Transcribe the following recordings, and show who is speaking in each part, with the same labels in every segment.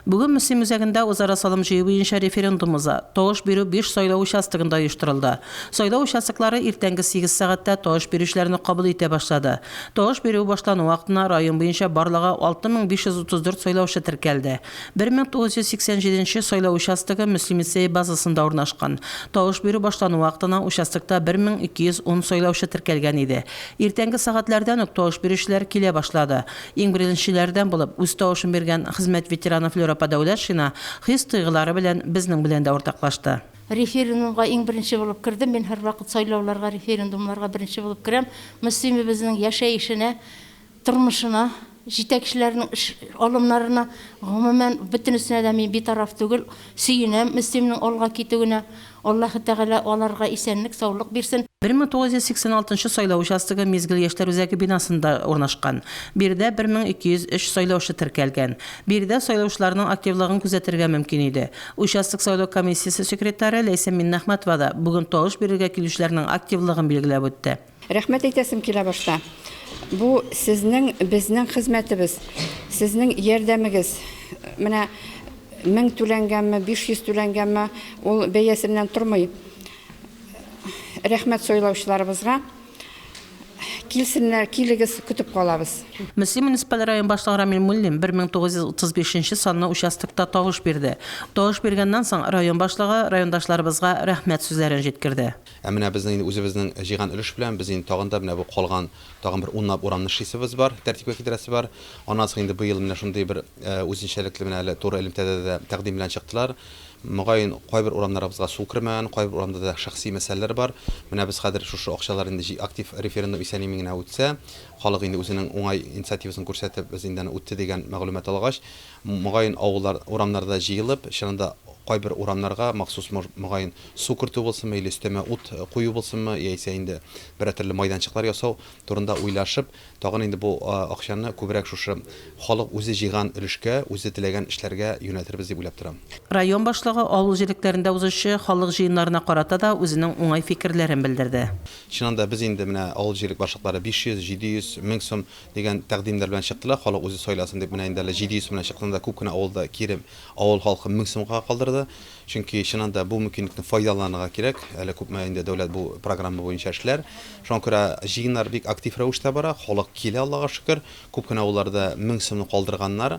Speaker 1: Бүген Мөслим үзәгендә үзара салым җыю буенча референдум уза. Тавыш бирү биш сайлау участогында оештырылды. Сайлау участоклары иртәнге сигез сәгатьтә тавыш бирүчеләрне кабул итә башлады. Тавыш бирү башлану вакытына район буенча барлыгы 6534 сайлаучы теркәлде. 1987 нче сайлау участогы Мөслим лицее базасында урнашкан. Тавыш бирү башлану вакытына участокта 1210 сайлаучы теркәлгән иде. Иртәнге сәгатьләрдән үк тавыш бирүчеләр килә башлады. Иң беренчеләрдән булып үз тавышын биргән хезмәт ветераны Флюр апа Дәүләтшина хис-тойгылары белән безнең белән дә уртаклашты. Референдумга
Speaker 2: иң беренче булып кердем. Мин һәрвакыт сайлауларга, референдумнарга беренче булып керәм. Мөслимебезнең яшәешенә, тормышына, җитәкчеләренең эш алымнарына, гомумән, бөтенесенә дә мин битараф түгел. Сөенәм Мөслимнең алга китүенә. Аллаһы Тәгалә аларга исәнлек, саулык бирсен. 1986 сайлау участогы Мизгел яшьләр үзәге бинасында урнашкан. Биредә 1203 сайлаучы теркәлгән. Биредә сайлаучыларның активлыгын күзәтергә мөмкин иде. Участок сайлау комиссиясе секретаре Ләйсән Миннәхмәтова да бүген тавыш бирергә килүчеләрнең активлыгын билгеләп үтте. Рәхмәт әйтәсем
Speaker 3: килә башта. Бу сезнең, безнең хезмәтебез, сезнең ярдәмегез. Менә 1000 түләнгәнме, 500 түләнгәнме, ул бәясеннән тормый. Рәхмәт сойлаучыларыбызга. Килсеннәр, килегез, көтеп калабыз. Мөслим муниципаль
Speaker 1: район башлыгы Рамил Муллин 1935 нче санлы участокта тавыш бирде. Тавыш биргәннән соң, район башлыгы райондашларыбызга рәхмәт сүзләрен җиткерде. Ә менә безнең инде
Speaker 4: үзебезнең җыйган өлеш белән без инде тагын да менә бу калган тагын бер унлап урамны эшлисебез бар, тәртипкә китерәсе бар. Аннан соң инде быел менә шундый бер үзенчәлекле менә әле туры элемтәдә дә тәкъдим белән чыктылар. Мөгаен, кайбер урамнарыбызга су кермәгән, кайбер урамда да шәхси мәсьәләләр бар. Менә без хәзер шушы акчалар инде җи актив референдум исән-имин генә үтсә, халык инде үзенең уңай инициативасын күрсәтеп, без инде аны үтте дигән мәгълүмат алгач, Мөгаен авыллар урамнарда җыелып, чыннан да кайбер урамнарга махсус мөгаен су кертү булсынмы, или өстәмә ут кую булсынмы, яисә инде берәр төрле майданчыклар ясау турында уйлашып, тагын инде бу акчаны күбрәк шушы халык үзе җыйган өлешкә, үзе теләгән эшләргә юнәлтербез дип уйлап торам. Район башлыгы
Speaker 1: авыл җирлекләрендә узучы халык җыеннарына карата да үзенең уңай фикерләрен белдерде. Чыннан да без инде
Speaker 4: менә авыл җирлек башлыклары 500, 700, 1000 сум Дигән тәкъдимнәр белән чыктылар, халык үзе сайласын дип, менә инде әле 700 сум белән чыксаң да, күп кенә авылда кире авыл халкы 1000 сумга калдырды. Чөнки, чыннан да, бу мөмкинлекне файдаланырга кирәк. Әле күпме инде дәүләт бу программа буенча эшләр. Шуңа күрә җыеннар бик актив рәвештә бара, халык килә, Аллага шөкер. Күп кенә авылларда 1000 сумны калдырганнар.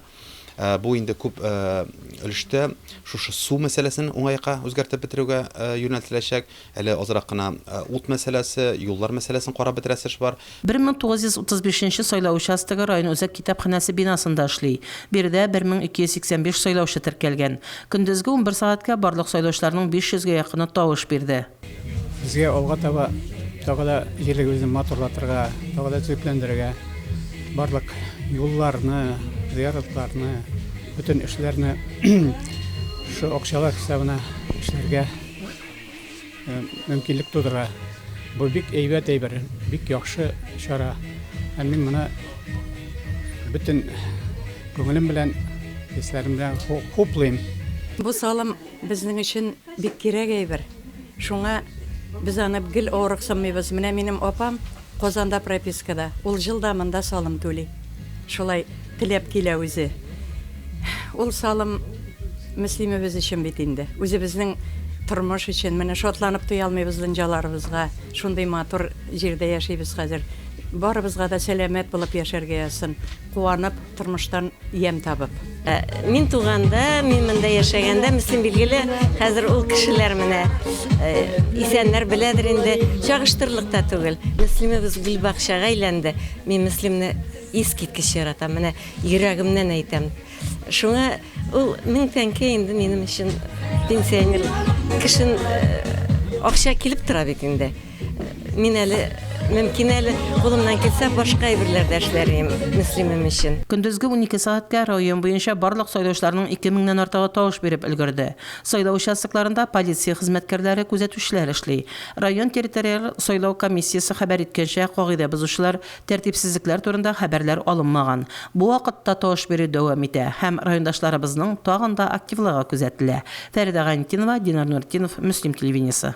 Speaker 4: Ә, бу инде күп ә, өлештә шушы су мәсьәләсен уңайга үзгәртеп бетерүгә ә, юнәлтеләчәк. Әле азрак кына ә, ут мәсьәләсе, юллар мәсьәләсен карап бетерәсе эш бар. 1935
Speaker 1: нче сайлау участогы район үзәк китапханәсе бинасында эшли. Биредә 1285 сайлаучы теркәлгән. Көндезге унбер сәгатькә барлык сайлаучыларның 500 гә якыны тавыш бирде. Безгә алга
Speaker 5: таба тагы да җирлегебезне матурлатырга, тагы да төзекләндерергә, барлык юлларны, зыяратларны, бөтен эшләрне шул акчалар хисабына эшләргә э, мөмкинлек тудыра. Бу бик әйбәт әйбер, бик яхшы чара. Ә мин моны бөтен күңелем белән, хисләрем белән хуплыйм. Бу салым
Speaker 6: Безнең өчен бик кирәк әйбер, шуңа без аны гел авырыксынмыйбыз. Менә минем апам Казанда пропискада, ул җыл да монда салым түли. Шулай теләп килә үзе. Ул салым Мөслимебез өчен бит инде. Үзебезнең тормыш өчен. Менә шатланып туя алмыйбыз дөнҗаларыбызга. Шундый матур җирдә яшибез хәзер. Барыбызга да сәламәт булып яшәргә язсын, куанып. Тормыштан ямь табып. Мин
Speaker 7: туганда, мин монда яшәгәндә, мөслим билгеле, хәзер ул кешеләр менә исәннәр беләдер инде, чагыштырырлык та түгел. Мөслимебез гөлбакчага әйләнде. Мин Мөслимне искиткеч яратам, менә йөрәгемнән әйтәм. Шуңа ул мең тәңкә инде минем өчен пенсионер кешен акча килеп тора бит инде. Мин әле мөмкин әле кулымнан килсә башка әйберләр дә эшләрем Мөслимем өчен. Көндезге унике сәгатькә
Speaker 1: район буенча барлык сайлаучыларның ике меңнән артыгы тавыш биреп өлгерде. Сайлау участокларында полиция хезмәткәрләре, күзәтүчеләр эшли. Район территориаль сайлау комиссиясе хәбәр иткәнчә, кагыйдә бозучылар, тәртипсезлекләр турында хәбәрләр алынмаган. Бу вакытта тавыш бирү дәвам итә һәм райондашларыбызның тагын да активлыгы күзәтелә. Фәридә Гайнетдинова, Динар Нуретдинов, Мөслим телевидениесе.